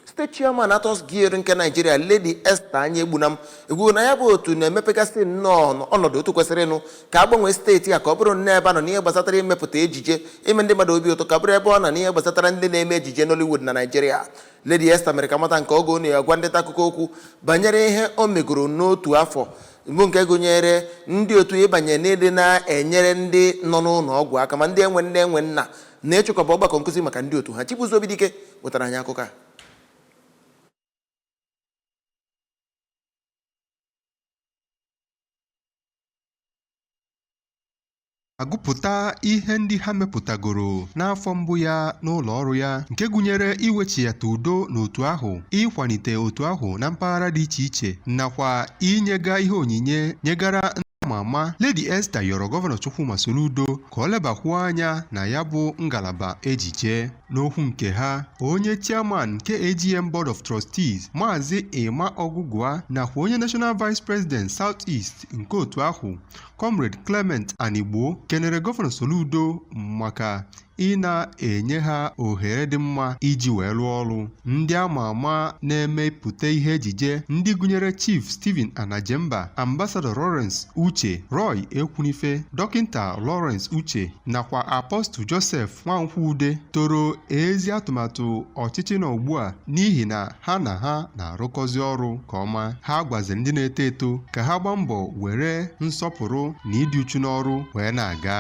State Chairman Actors Guild nke Naijiria Lady Esther Anyegbunam ekwugo na ya bụ otu na-emepegasị nnọọ ọnọdụ otu kwesịrịnụ ka a gbanwee steeti a ka ọ bụrụ nnọọ ebe a nọ n'ihe gbasatara imepụta ejije ime ndị mmadụ obi ụtọ ka ọ bụrụ ebe ọ nọ n'ihe gbasatara ndị na-eme ejije Nollywood na Naijiria Lady Esther mere ka a mata nke a oge ọ na-agwa ndị nta akụkọ okwu banyere ihe o megoro n'otu afọ bụ nke gụnyere ndị otu ịbanye n'ịdị na-enyere ndị nọ n'ụlọ ọgwụ aka ma ndị enwe nne enwe nna na ịchịkọba ọgbakọ nkụzi maka ndị otu ha Chibuzo Obidike wetara anyị akụkọ a agụpụta ihe ndị ha mepụtagoro n'afọ mbụ ya n'ụlọ ọrụ ya nke gụnyere iwechighata udo n'otu ahụ ịkwalite otu ahụ na mpaghara dị iche iche nakwa inyega ihe onyinye nyegara ndị ama ama Lady Esther yọrọ gọvanọ Chukwuma Soludo ka ọ lebakwuo anya na ya bụ ngalaba ejije n'okwu nke ha onye chairman nke AGN Board of Trustees Maazị Emma Ogugua nakwa onye National Vice President South East nke otu ahụ Comrade Clement Anigbo kenere Gọvanọ Soludo maka ịna-enye ha ohere dị mma iji wee rụọ ọrụ ndị ama ama na-emepụta ihe ejije ndị gụnyere Chief Stephen Anajemba Ambassador Lawrence Uche Roy Ekwunife Dọkịnta Lawrence Uche nakwa Apostle Joseph Nwankwude toro ezi atụmatụ ọchịchị nọ ugbu a n'ihi na ha na ha na-arụkọzi ọrụ nke ọma ha gwaziri ndị na-eto eto ka ha gbaa mbọ were nsọpụrụ na ịdị uchu n'ọrụ wee na-aga